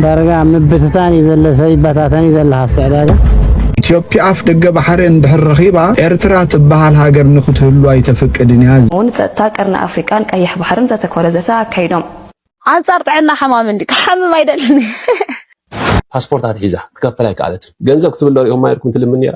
ዳርጋ ኣብ ምብትታን እዩ ዘሎ ሰብ ይበታተን እዩ ዘሎ ሃፍቲ ዕዳጋ። ኢትዮጵያ ኣፍ ደገ ባሕሪ እንድሕር ረኺባ ኤርትራ ትበሃል ሃገር ንክትህሉ ኣይተፍቅድን እያ። ን ጸጥታ ቀርኒ ኣፍሪቃን ቀይሕ ባሕርን ዘተኮረ ዘተ ኣካይዶም። ኣንጻር ጥዕና ሓማሚ እንድዩ ክሓምም ኣይደልን እየ። ፓስፖርት ኣትሒዛ ክትከፈል ኣይከኣለትን። ገንዘብ ክትብል ዶ ሪኦማ ኔርኩም ትልምን ኔራ?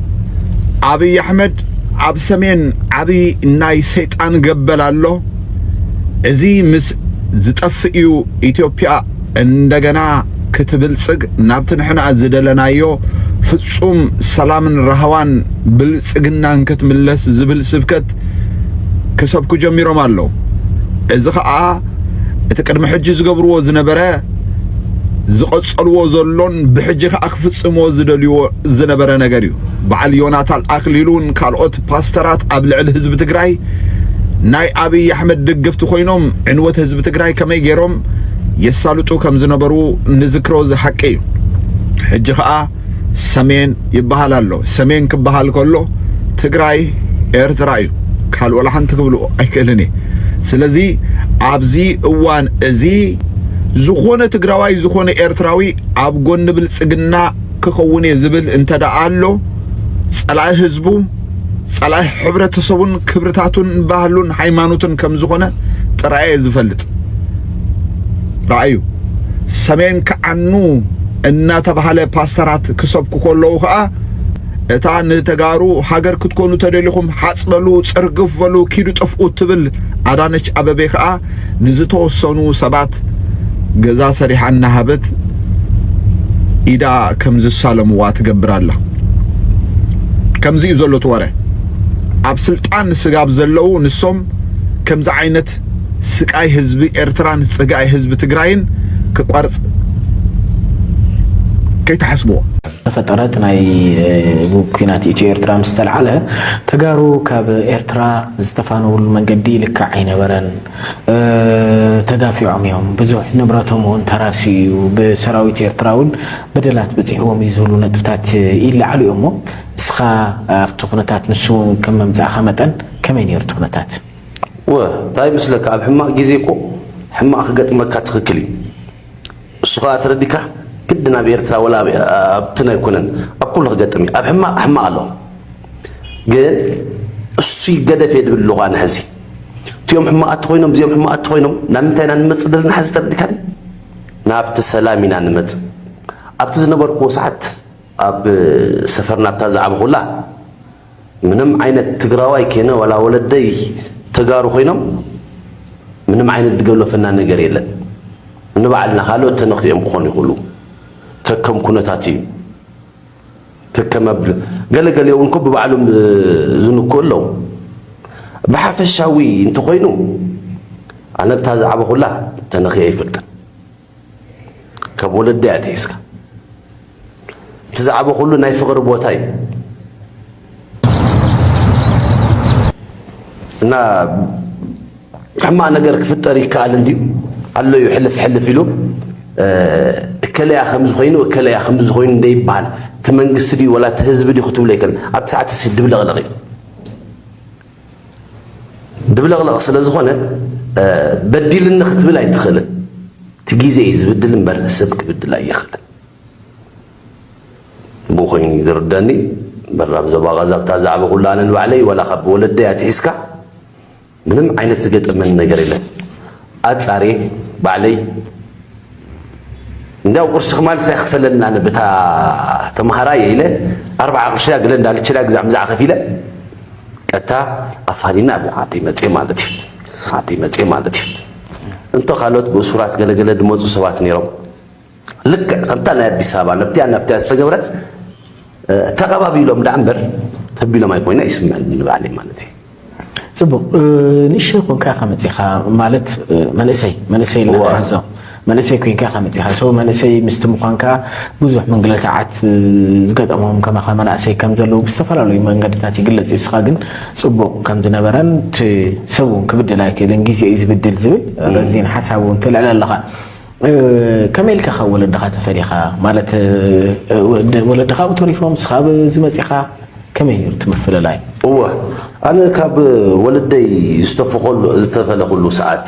ኣብይ ኣሕመድ ኣብ ሰሜን ዓብዪ ናይ ሰይጣን ገበል ኣሎ። እዚ ምስ ዝጠፍእ እዩ ኢትዮጵያ እንደገና ክትብልጽግ ናብቲ ንሕና ዝደለናዮ ፍጹም ሰላምን ራህዋን ብልጽግናን ክትምለስ ዝብል ስብከት ክሰብኩ ጀሚሮም ኣለዉ። እዚ ከዓ እቲ ቅድሚ ሕጂ ዝገብርዎ ዝነበረ ዝቐጸልዎ ዘሎን ብሕጂ ከዓ ክፍጽምዎ ዝደልይዎ ዝነበረ ነገር እዩ በዓል ዮናታን ኣክሊሉን ካልኦት ፓስተራት ኣብ ልዕሊ ህዝቢ ትግራይ ናይ ኣብይ ኣሕመድ ድግፍቲ ኮይኖም ዕንወት ህዝቢ ትግራይ ከመይ ገይሮም የሳልጡ ከም ዝነበሩ ንዝክሮ ዝሓቂ እዩ ሕጂ ከዓ ሰሜን ይበሃል ኣሎ ሰሜን ክበሃል ከሎ ትግራይ ኤርትራ እዩ ካልኦ ላሓንቲ ክብሉ ኣይክእልን እየ ስለዚ ኣብዚ እዋን እዚ ዝኾነ ትግራዋይ ዝኾነ ኤርትራዊ ኣብ ጎኒ ብልጽግና ክኸውን እየ ዝብል እንተደኣ ኣሎ ጸላኢ ህዝቡ ጸላኢ ሕብረተሰቡን ክብርታቱን ባህሉን ሃይማኖቱን ከም ዝኾነ ጥራይ እየ ዝፈልጥ። ረኣዩ ሰሜን ክዓኑ እናተባህለ ፓስተራት ክሰብኩ ከለዉ ከዓ እታ ንተጋሩ ሃገር ክትኮኑ ተደሊኹም ሓጽ በሉ ጽርግፍ በሉ ኪዱ ጥፍኡ እትብል ኣዳነች ኣበቤ ከዓ ንዝተወሰኑ ሰባት ገዛ ሰሪሓ እናሃበት ኢዳ ከም ዝሳለምዋ ትገብር ኣላ። ከምዚ እዩ ዘሎ እቲ ወረ። ኣብ ስልጣን ስጋብ ዘለዉ ንሶም ከምዚ ዓይነት ስቃይ ህዝቢ ኤርትራን ጽግኣይ ህዝቢ ትግራይን ክቆርጽ ከይትሓስብዎ። ዝተፈጠረት ናይ ኩናት ኢትዮ ኤርትራ ምስ ተልዓለ ተጋሩ ካብ ኤርትራ ዝተፋነውሉ መንገዲ ልክዕ ኣይነበረን ተጋፊዖም እዮም ብዙሕ ንብረቶም እውን ተራስዩ እዩ ብሰራዊት ኤርትራ እውን በደላት በፂሕዎም እዩ ዝብሉ ነጥብታት ይለዓሉ እዮም እሞ እስኻ ኣብቲ ኩነታት ንሱ እውን ከም መምፃእኻ መጠን ከመይ ነይሩ እቲ ኩነታት? ወ፣ ታይ ይመስለካ ኣብ ሕማቅ ግዜ እኮ ሕማቅ ክገጥመካ ትክክል እዩ። እሱ ከኣ ተረዲካ ግድን ኣብ ኤርትራ ወላ ኣብትን ኣይኮነን ኣብ ኩሉ ክገጥም እዩ ኣብ ሕማቅ ሕማቅ ኣሎ ግን እሱ ይገደፍ እየ ድብል ኣለኹ ኣነ ሕዚ እቲኦም ሕማቃት ኮይኖም እዚኦም ሕማቃት ኮይኖም ናብ ምንታይ ኢና ንመፅእ ዘለና ሕዚ ተረዲካኒ ናብቲ ሰላም ኢና ንመፅእ ኣብቲ ዝነበርኩዎ ሰዓት ኣብ ሰፈርና ኣብታ ዝዓበኹላ ምንም ዓይነት ትግራዋይ ኬነ ዋላ ወለደይ ተጋሩ ኮይኖም ምንም ዓይነት ድገሎፈና ነገር የለን ንባዕልና ካልኦት ተነኺኦም ክኾኑ ይኽእሉ ከከም ኩነታት እዩ ከከም ኣብ ገለገሊኦ እውን ኮ ብባዕሎም ዝንክኡ ኣለዉ ብሓፈሻዊ እንተኾይኑ ኣነ ብታ ዛዕባ ኩላ ተነኺ ኣይፈልጥን ካብ ወለደይ ኣትሒዝካ እቲ ዛዕባ ኩሉ ናይ ፍቕሪ ቦታ እዩ እና ሕማቕ ነገር ክፍጠር ይከኣል እንድዩ ኣሎ እዩ ሕልፍ ሕልፍ ኢሉ እከለያ ከምዚ ኮይኑ እከለያ ከምዚ ኮይኑ እንደይበሃል እቲ መንግስቲ ድዩ ወላ እቲ ህዝቢ ድዩ ክትብሎ ይከል ኣብቲ ሰዓት ድብለቕለቕ እዩ ድብልቕልቕ ስለ ዝኾነ በዲልኒ ክትብል ኣይትኽእልን። እቲ ግዜ እዩ ዝብድል እምበር ሰብ ክብድል ኣይኽእልን። ብኡ ኮይኑ እዩ ዝርደኒ እምበር ኣብ ዞባ ቐዛ ብታ ዛዕባ ኩሉ ኣነ ንባዕለይ ዋላ ካብ ወለደይ ኣትሒዝካ ምንም ዓይነት ዝገጠመኒ ነገር የለን። ኣጻርየ ባዕለይ እንዲያው ቁርሲ ክማልስ ኣይክፈለንን ኣነ ብታ ተምሃራ እየ ኢለ ኣርብዓ ቁርሲ ኣግለ እንዳልችላ ግዛዕ ምዛዕ ከፊለ ቀጥታ ኣፋኒና ኣብ ዓደይ መፅየ ማለት እዩ ዓደይ መፅየ ማለት እዩ እንተ ካልኦት ብእሱራት ገለገለ ድመፁ ሰባት ነይሮም ልክዕ ከምታ ናይ ኣዲስ ኣበባ ነብቲያን ናብቲያን ዝተገብረት ተቐባቢሎም ደኣ እምበር ተቢሎም ኣይኮይነ ይስምዐኒ ንባዕለይ ማለት እዩ ጽቡቅ ንእሽተይ ኮንካ ኢኻ መጺኻ ማለት መንእሰይ መንእሰይ ኣለና ሕዞ መንእሰይ ኮንካ ኢኻ መጺኻ ሰው መንእሰይ ምስቲ ምዃንካ ብዙሕ ምንግልታዓት ዝገጠሞም ከማኻ መናእሰይ ከም ዘለዉ ብዝተፈላለዩ መንገድታት ይግለጽ እዩ እስኻ ግን ጽቡቅ ከም ዝነበረን እቲ ሰብ እውን ክብድል ኣይክእልን ግዜ እዩ ዝብድል ዝብል ረዚን ሓሳብ እውን ትልዕል ኣለኻ ከመይ ኢልካ ካብ ወለድኻ ተፈሊኻ ማለት ወለድኻ ኣብኡ ተሪፎም ንስኻ ኣብዚ መጺኻ ከመይ ነይሩ እቲ ምፍልላይ? እወ ኣነ ካብ ወለደይ ዝተፈለኹሉ ሰዓት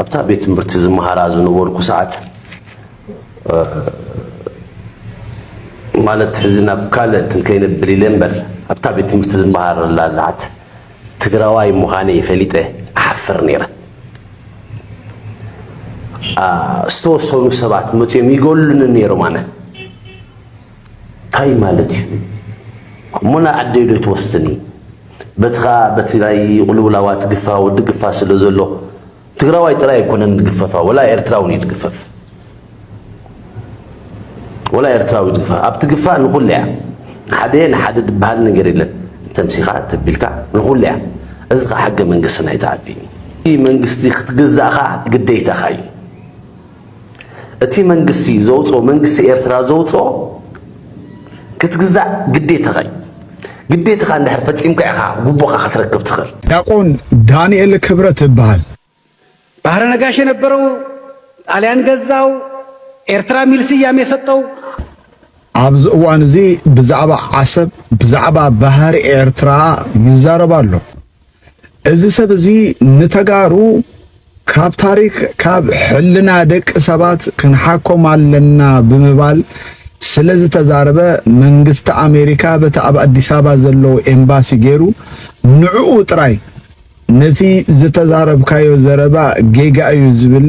ኣብታ ቤት ትምህርቲ ዝመሃራ ዝነበርኩ ሰዓት ማለት ሕዚ ናብ ካልእ እንትን ከይነብል ኢለ እምበር ኣብታ ቤት ትምህርቲ ዝመሃረላ ሰዓት ትግራዋይ ምዃነይ ፈሊጠ እሓፍር ነይረ። ዝተወሰኑ ሰባት መፅዮም ይገሉኒ ነይሮም ኣነ እንታይ ማለት እዩ እሞ ናብ ዓደይ ዶ ትወስድኒ በቲ ከዓ በትግራይ ቁልውላዋት ግፋ ወዲ ግፋ ስለ ዘሎ ትግራዋይ ጥራይ ኣይኮነን ዝግፈፋ ወላ ኤርትራውን እዩ ዝግፈፍ ወላ ኤርትራዊ ዝግፈፍ ኣብ ትግፋእ ንኹሉ እያ ሓደ ንሓደ ዝበሃል ነገር የለን ተምሲኻ ተቢልካ ንኹሉ እያ እዚ ከዓ ሕገ መንግስትና ይተዓዲን እዩ መንግስቲ ክትግዛእኻ ግዴታኻ እዩ እቲ መንግስቲ ዘውጽኦ መንግስቲ ኤርትራ ዘውጽኦ ክትግዛእ ግዴታኻ እዩ። ግዴታኻ እንድሕር ፈጺምካ ኢኻ ጉቦኻ ክትረክብ ትኽእል። ዲያቆን ዳንኤል ክብረት እበሃል። ባህረ ነጋሽ የነበረው፣ ጣልያን ገዛው፣ ኤርትራ የሚል ስያሜ ሰጠው። ኣብዚ እዋን እዚ ብዛዕባ ዓሰብ ብዛዕባ ባህሪ ኤርትራ ይዛረብ ኣሎ። እዚ ሰብ እዚ ንተጋሩ ካብ ታሪክ ካብ ሕልና ደቂ ሰባት ክንሓኮም ኣለና ብምባል ስለ ዝተዛረበ መንግስቲ ኣሜሪካ በቲ ኣብ ኣዲስ ኣበባ ዘለዎ ኤምባሲ ገይሩ ንዕኡ ጥራይ ነቲ ዝተዛረብካዮ ዘረባ ጌጋ እዩ ዝብል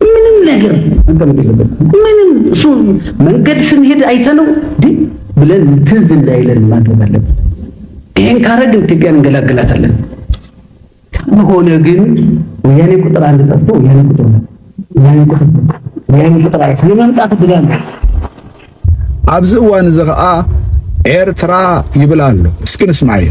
ምንም ነገር መቀመጥ የለበት። ምንም እሱ መንገድ ስንሄድ አይተነው ግን ብለን ትዝ እንዳይለን ማድረግ አለብን። ይህን ካረግን ኢትዮጵያን እንገላግላታለን። ካልሆነ ግን ወያኔ ቁጥር አንድ ጠፍቶ ወያኔ ቁጥር ወያኔ ቁጥር ወያኔ ቁጥር አይ ስለመምጣት ብላለ ኣብዚ እዋን እዚ ከዓ ኤርትራ ይብላሉ። እስኪ ንስማዕዮ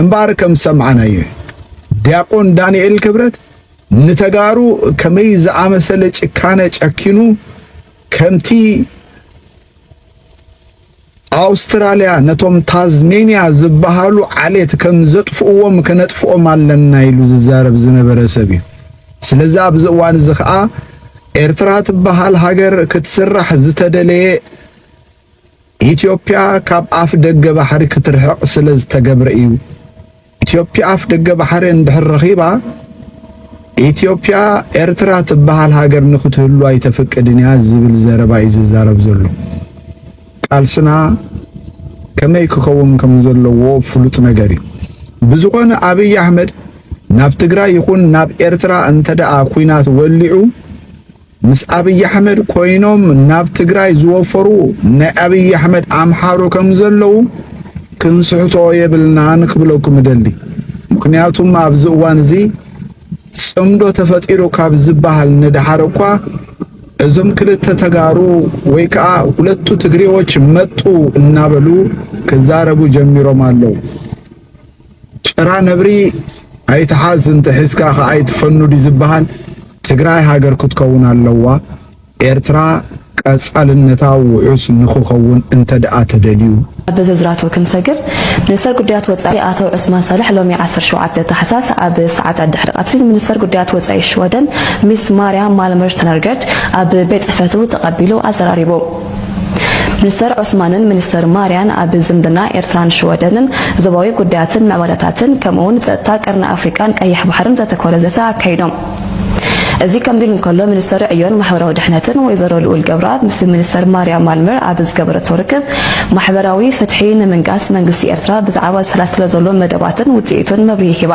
እምበኣር ከም ዝሰማዕናዮ እዩ ዲያቆን ዳንኤል ክብረት ንተጋሩ ከመይ ዝኣመሰለ ጭካነ ጨኪኑ ከምቲ ኣውስትራልያ ነቶም ታዝሜንያ ዝበሃሉ ዓሌት ከም ዘጥፍእዎም ከነጥፍኦም ኣለና ኢሉ ዝዛረብ ዝነበረ ሰብ እዩ ስለዚ ኣብዚ እዋን እዚ ከዓ ኤርትራ ትበሃል ሃገር ክትስራሕ ዝተደለየ ኢትዮጵያ ካብ ኣፍ ደገ ባሕሪ ክትርሕቕ ስለ ዝተገብረ እዩ። ኢትዮጵያ ኣፍ ደገ ባሕሪ እንድሕር ረኺባ ኢትዮጵያ ኤርትራ ትበሃል ሃገር ንክትህሉ ኣይተፍቅድን እያ ዝብል ዘረባ እዩ ዝዛረብ ዘሎ። ቃልስና ከመይ ክኸውን ከም ዘለዎ ፍሉጥ ነገር እዩ። ብዝኾነ ኣብይ ኣሕመድ ናብ ትግራይ ይኹን ናብ ኤርትራ እንተደኣ ኩናት ወሊዑ ምስ ኣብይ ኣሕመድ ኮይኖም ናብ ትግራይ ዝወፈሩ ናይ ኣብይ ኣሕመድ ኣምሓሩ ከም ዘለዉ ክንስሕቶ የብልናን ክብለኩም እደሊ። ምክንያቱም ኣብዚ እዋን እዚ ጽምዶ ተፈጢሩ ካብ ዝበሃል ንደሓር እኳ እዞም ክልተ ተጋሩ ወይ ከዓ ሁለቱ ትግሬዎች መጡ እናበሉ ክዛረቡ ጀሚሮም ኣለዉ። ጭራ ነብሪ ኣይትሓዝ እንተሒዝካ ከኣ ኣይትፈኑ ድዩ ዝበሃል? ትግራይ ሃገር ክትከውን ኣለዋ። ኤርትራ ቀጻልነታ ውሑስ ንክኸውን እንተድኣ ተደልዩ። ናብ ምዝርዛራቱ ክንሰግር፣ ሚኒስተር ጉዳያት ወጻኢ ኣቶ ዑስማን ሳልሕ ሎሚ ዓሰርተ ሸውዓተ ታሕሳስ ኣብ ሰዓታት ድሕሪ ቀትሪ ንሚኒስተር ጉዳያት ወጻኢ ሽወደን ሚስ ማርያ ማልምር ስተነርገርድ ኣብ ቤት ጽሕፈቱ ተቐቢሉ ኣዘራሪቡ። ሚኒስተር ዑስማንን ሚኒስተር ማርያን ኣብ ዝምድና ኤርትራን ሽወደንን፣ ዞባዊ ጉዳያትን ምዕባለታትን ከምኡ'ውን ጸጥታ ቀርኒ ኣፍሪቃን ቀይሕ ባሕርን ዘተኮረ ዘተ ኣካይዶም። እዚ ከምዚ ኢሉ እንከሎ፣ ሚኒስተር ዕዮን ማሕበራዊ ድሕነትን ወይዘሮ ልኡል ገብረኣብ ምስ ሚኒስተር ማርያ ማልመር ኣብ ዝገበረቶ ርክብ፣ ማሕበራዊ ፍትሒ ንምንጋስ መንግስቲ ኤርትራ ብዛዕባ ዝሰላሰሎ ዘሎ መደባትን ውጽኢቱን መብርሂ ሂባ።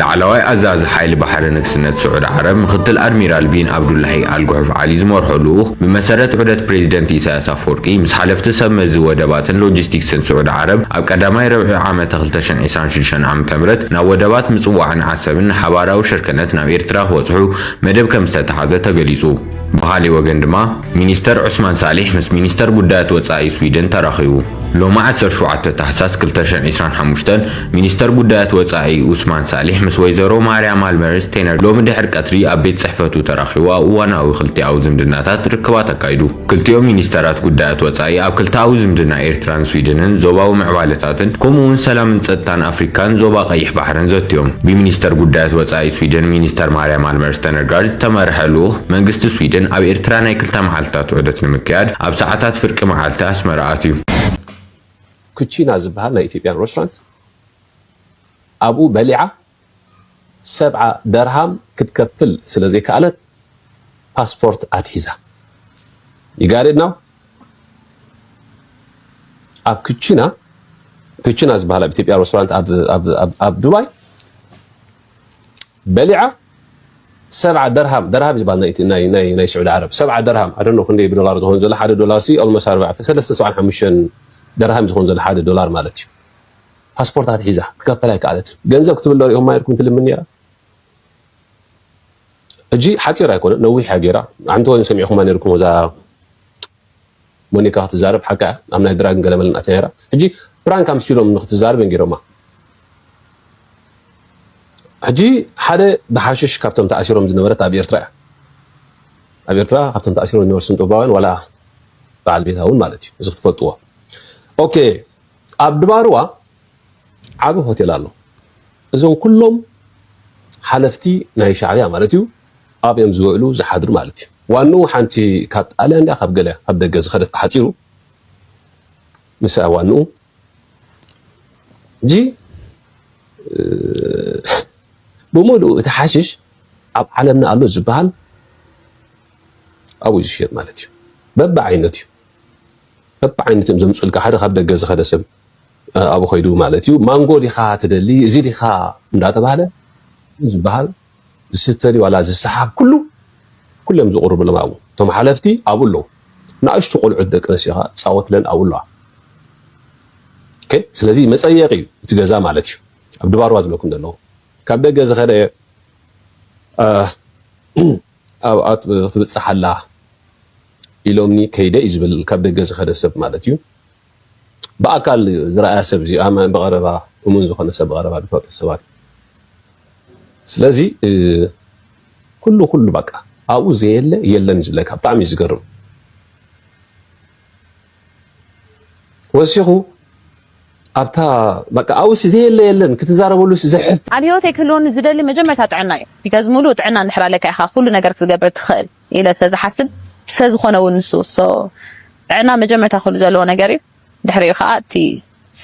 ላዕለዋይ ኣዛዚ ሓይሊ ባሕሪ ንግስነት ስዑድ ዓረብ ምክትል ኣድሚራል ቢን ኣብዱላሂ ኣል ጉሑፍ ዓሊ ዝመርሖ ልኡኽ ብመሰረት ዑደት ፕሬዚደንት ኢሳያስ ኣፈወርቂ ምስ ሓለፍቲ ሰብ መዚ ወደባትን ሎጂስቲክስን ስዑድ ዓረብ ኣብ ቀዳማይ ረብዒ ዓመተ ክልተ ሽሕን ዒስራን ሽዱሽተን ዓመተ ምህረት ናብ ወደባት ምጽዋዕን ዓሰብን ንሓባራዊ ሽርክነት ናብ ኤርትራ ክበጽሑ መደብ ከምዝተተሓዘ ተገሊጹ። ብኻሊእ ወገን ድማ ሚኒስተር ዑስማን ሳሊሕ ምስ ሚኒስተር ጉዳያት ወጻኢ ስዊድን ተራኺቡ። ሎሚ ዓሰርተ ሸውዓተ ታሕሳስ ክልተ ሽሕን ዒስራን ሓሙሽተን ሚኒስተር ጉዳያት ወጻኢ ዑስማን ሳሊሕ ምስ ወይዘሮ ማርያ ማልመር ስቴነር ሎሚ ድሕሪ ቀትሪ ኣብ ቤት ጽሕፈቱ ተራኺቡ ኣብ እዋናዊ ክልቲኣዊ ዝምድናታት ርክባት ኣካይዱ። ክልቲኦም ሚኒስተራት ጉዳያት ወጻኢ ኣብ ክልተኣዊ ዝምድና ኤርትራን ስዊድንን ዞባዊ ምዕባለታትን ከምኡ'ውን ሰላምን ጸጥታን ኣፍሪካን ዞባ ቀይሕ ባሕርን ዘትዮም። ብሚኒስተር ጉዳያት ወጻኢ ስዊድን ሚኒስተር ማርያ ማልመር ሰነጋል ዝተመርሐ ልኡኽ መንግስቲ ስዊድን ኣብ ኤርትራ ናይ ክልተ መዓልታት ዑደት ንምክያድ ኣብ ሰዓታት ፍርቂ መዓልቲ ኣስመራ ኣትዩ። ኩቺና ዝብሃል ናይ ኢትዮጵያን ረስራንት ኣብኡ በሊዓ ሰብዓ ደርሃም ክትከፍል ስለ ዘይከኣለት ፓስፖርት ኣትሒዛ። ዩ ጋት ኢት ናው? ኣብ ኩቺና ኩቺና ዝብሃል ኣብ ኢትዮጵያ ረስራንት ኣብ ዱባይ በሊዓ ሰብዓ ደርሃም ደርሃም ይባል ናይ ናይ ናይ ናይ ስዑዲ ዓረብ ሰብዓ ደርሃም ኣደኖ ክንደይ ብዶላር ዝኮን ዘሎ ሓደ ዶላር ሲ ኦልሞስ ኣርባዕተ ሰለስተ ሰብዓን ሓሙሽተን ደርሃም ዝኮን ዘሎ ሓደ ዶላር ማለት እዩ ፓስፖርታት ሒዛ ክትከፈል ኣይከኣለትን ገንዘብ ክትብለ ሪኦም ማየርኩም ትልምን ነራ ሕጂ ሓፂር ኣይኮነ ነዊሕ እያ ገይራ ሓንቲ ወይን ሰሚዕኹማ ነርኩም እዛ ሞኒካ ክትዛረብ ሓቃ እያ ኣብ ናይ ድራግን ገለመለን ኣትያ ነይራ ሕጂ ፕራንክ ኣምሲሎም ንክትዛረብ እዮም ጌሮማ ሕጂ ሓደ ብሓሽሽ ካብቶም ተኣሲሮም ዝነበረት ኣብ ኤርትራ እያ ኣብ ኤርትራ ካብቶም ተኣሲሮም ዝነበሩ ስንጥባውያን ዋላ በዓል ቤታ እውን ማለት እዩ እዚ ክትፈልጥዎ ኦኬ ኣብ ድባርዋ ዓቢ ሆቴል ኣሎ እዞም ኩሎም ሓለፍቲ ናይ ሻዕብያ ማለት እዩ ኣብዮም ዝውዕሉ ዝሓድሩ ማለት እዩ። ዋንኡ ሓንቲ ካብ ጣልያን ድያ ካብ ገለ ካብ ደገ ዝኸደት ብሓጺሩ ንሳ ዋንኡ ሕጂ ብምሉኡ እቲ ሓሽሽ ኣብ ዓለምና ኣሎ ዝበሃል ኣብኡ ዝሽየጥ ማለት እዩ። በብዓይነት እዩ በብዓይነት እዮም ዘምጽኡልካ ሓደ ካብ ደገ ዝኸደ ሰብ ኣብኡ ከይዱ ማለት እዩ ማንጎ ዲኻ ትደሊ እዚ ዲኻ እንዳተባህለ ዝበሃል ዝስተ ድዩ ዋላ ዝሰሓብ ኩሉ ኩሎም ዝቅርብሎም ኣብኡ እቶም ሓለፍቲ ኣብኡ ኣለዉ ናእሽቱ ቆልዑት ደቂ ኣንስትዮ ከኣ ዝጻወትለን ኣብኡ ኣለዋ ኦኬ ስለዚ መጸየቂ እዩ እቲ ገዛ ማለት እዩ ኣብ ድባርዋ ዝብለኩም ዘለኹ ካብ ደገ ዝኸደ ኣብኣ ክትብጽሕ ኣላ ኢሎምኒ ከይደ እዩ ዝብል ካብ ደገ ዝኸደ ሰብ ማለት እዩ ብኣካል ዝረኣያ ሰብ እዚኣ ማይ ብቐረባ እሙን ዝኾነ ሰብ ብቐረባ ዝፈልጦ ሰባት እዩ። ስለዚ ኩሉ ኩሉ በቃ ኣብኡ ዘየለ የለን እዩ ዝብለካ ብጣዕሚ እዩ ዝገርም። ወሲኹ ኣብታ በቃ ኣብኡሲ ዘየለ የለን ክትዛረበሉሲ ዘሕፍር ኣብ ሂወተይ ክህልወኒ ዝደሊ መጀመርታ ጥዕና እዩ ቢካዝ ሙሉእ ጥዕና እንድሕር ኣለካ ኢኻ ኩሉ ነገር ክትገብር ትኽእል። ኢለ ስለ ዝሓስብ ስለ ዝኾነ እውን ንሱ so ጥዕና መጀመርታ ክህሉ ዘለዎ ነገር እዩ ድሕሪኡ ከኣ እቲ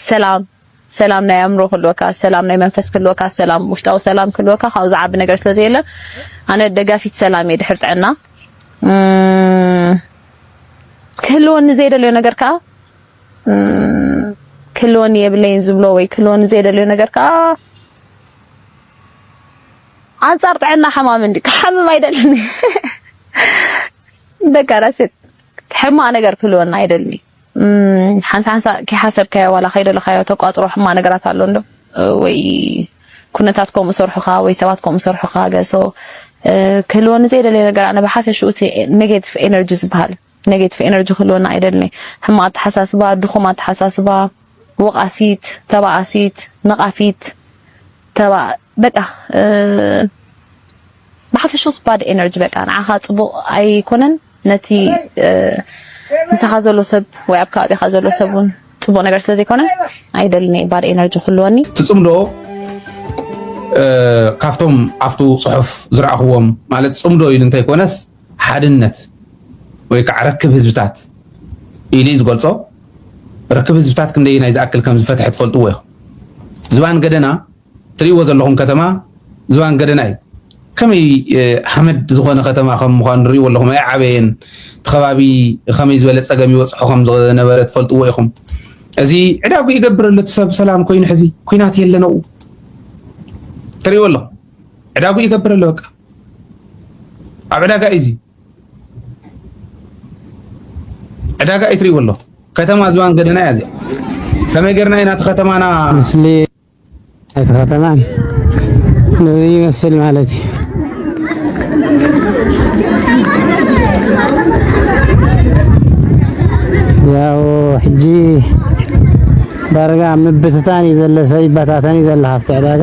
ሰላም ሰላም ናይ ኣእምሮ ክህልወካ ሰላም ናይ መንፈስ ክህልወካ ሰላም ውሽጣዊ ሰላም ክህልወካ ካብኡ ዝዓቢ ነገር ስለ ዘየለ ኣነ ደጋፊት ሰላም እየ ድሕሪ ጥዕና ክህልወኒ ዘይደልዮ ነገር ከኣ ክህልወኒ የብለይን ዝብሎ ወይ ክህልወኒ ዘይደልዮ ነገር ከኣ ኣንጻር ጥዕና ሓማም እንዲ ክሓምም ኣይደልን ደቂ ኣንስትዮ ሕማቅ ነገር ክህልወና ኣይደልን ሓንሳ ሓንሳ ከይሓሰብካዮ ዋላ ከይደለካዮ ተቋጽሮ ሕማቅ ነገራት ኣሎ እንዶ ወይ ኩነታት ከምኡ ሰርሑካ ወይ ሰባት ከምኡ ሰርሑካ ገሶ ክህልወኒ ዘይደለየ ነገር ኣነ ብሓፈሽኡ እቲ ኔጌቲቭ ኤነርጂ ዝበሃል ኔጌቲቭ ኤነርጂ ክህልወና ኣይደልን እየ። ሕማቕ ኣተሓሳስባ፣ ድኹም ኣተሓሳስባ፣ ወቓሲት፣ ተባኣሲት፣ ነቓፊት፣ ተባ በቃ ብሓፈሽኡስ ባድ ኤነርጂ በቃ ንዓኻ ጽቡቕ ኣይኮነን ነቲ ምሳኻ ዘሎ ሰብ ወይ ኣብ ከባቢኻ ዘሎ ሰብ እውን ጽቡቕ ነገር ስለ ዘይኮነ ኣይደልን እየ ባድ ኤነርጂ ክህልወኒ ትጽምዶ ካብቶም ኣብቱ ጽሑፍ ዝረኣኽዎም ማለት ጽምዶ ኢሉ እንተይኮነስ ሓድነት ወይ ከዓ ርክብ ህዝብታት ኢሉ እዩ ዝገልጾ። ርክብ ህዝብታት ክንደየናይ ዝኣክል ከም ዝፈትሐ ትፈልጥዎ ኢኹም። ዝባን ገደና ትርእይዎ ዘለኹም ከተማ ዝባን ገደና እዩ። ከመይ ሓመድ ዝኾነ ከተማ ከም ምዃኑ ርእይዎ ኣለኹም ኣይዓበየን እቲ ከባቢ ከመይ ዝበለ ፀገም ይበፅሖ ከም ዝነበረ ትፈልጥዎ ኢኹም እዚ ዕዳጉ ይገብር ኣሎ እቲ ሰብ ሰላም ኮይኑ ሕዚ ኩናት የለን ኣብኡ ትርእይዎ ኣለኹም ዕዳጉ ይገብር ኣሎ በቃ ኣብ ዕዳጋ እዩ እዚ ዕዳጋ እዩ ትሪእዎ ኣለኹ ከተማ ዝባን ገደና እያ እዚኣ ከመይ ጌርና ኢና እቲ ከተማና ምስሊ እቲ ከተማ ነዚ ይመስል ማለት እዩ ያው ሕጂ ዳርጋ ምብትታን እዩ ዘሎ ሰብ ይበታተን እዩ ዘሎ ሃፍቲ ዕዳጋ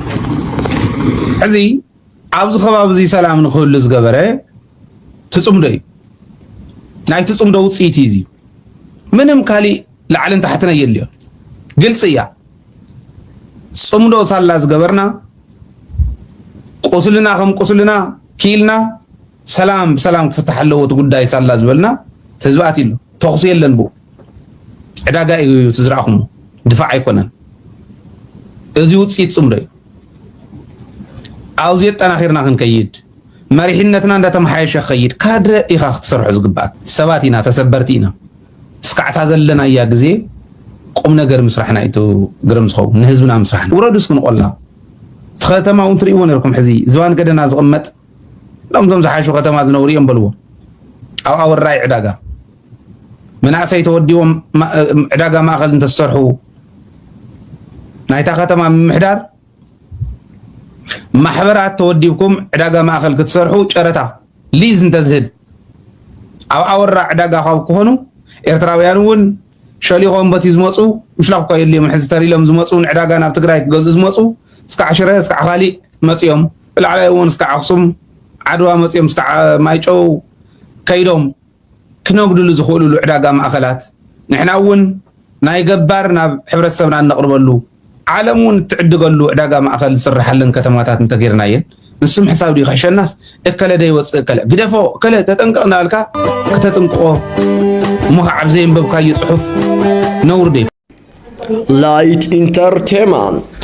ሕዚ ኣብዚ ከባቢ እዚ ሰላም ንክህሉ ዝገበረ ትፅምዶ እዩ ናይ ትፅምዶ ውፅኢት እዩ እዚ ምንም ካሊእ ላዕልን ታሕትን ኣየድልዮ ግልፂ እያ ፅምዶ ሳላ ዝገበርና ቁስልና ከም ቁስልና ኪኢልና ሰላም ብሰላም ክፍታሕ ኣለዎ እቲ ጉዳይ ሳላ ዝበልና ህዝቢ ኣትሉ ተኽሲ የለን ብኡ ዕዳጋ እዩ እቲ ዝረኣኹሞ ድፋዕ ኣይኮነን። እዚ ውፅኢት ፅምዶ እዩ። ኣብዚ ኣጠናኺርና ክንከይድ መሪሕነትና እንዳተመሓየሸ ክኸይድ ካድረ ኢኻ ክትሰርሖ ዝግባእ ሰባት ኢና፣ ተሰበርቲ ኢና። እስካዕታ ዘለናያ ግዜ ቁም ነገር ምስራሕና እዩ ግርም ዝኸውን ንህዝብና ምስራሕና። ውረዱ እስኪ ንቆላ እቲ ከተማ እውን ትርእይዎ ነርኩም ሕዚ ዝባን ገደና ዝቕመጥ እዞም ዞም ዝሓሹ ከተማ ዝነብሩ እዮም በልዎ ኣብ ኣወራይ ዕዳጋ መናእሰይ ተወዲቦም ዕዳጋ ማእኸል እንተዝሰርሑ ናይታ ከተማ ምምሕዳር ማሕበራት ተወዲብኩም ዕዳጋ ማእኸል ክትሰርሑ ጨረታ ሊዝ እንተዝህብ ኣብ ኣወራ ዕዳጋ ካብ ክኾኑ ኤርትራውያን እውን ሸሊኾም በቲ ዝመፁ ምሽላኽ እኳ የድልዮም ሕዚ ተሪሎም ዝመፁ ንዕዳጋ ናብ ትግራይ ክገዝኡ ዝመፁ እስካዕ ሽረ እስካዕ ካሊእ መፅኦም ብላዕላይ እውን እስካዕ ኣክሱም ዓድዋ መፅኦም እስካዕ ማይጨው ከይዶም ክነጉድሉ ዝኽእልሉ ዕዳጋ ማእኸላት ንሕና እውን ናይ ገባር ናብ ሕብረተሰብና እነቕርበሉ ዓለም እውን እትዕድገሉ ዕዳጋ ማእኸል ዝስራሓለን ከተማታት እንተገይርናየን ንሱ ምሕሳብ ድዩ ክሕሸናስ እከለ ደይወፅእ እከለ ግደፎ እከለ ተጠንቀቕ እናበልካ ክተጥንቅቆ እሞ ከዓ ኣብ ዘየንበብካዮ ፅሑፍ ነውሪ ዶ ላይት ኢንተርቴንመንት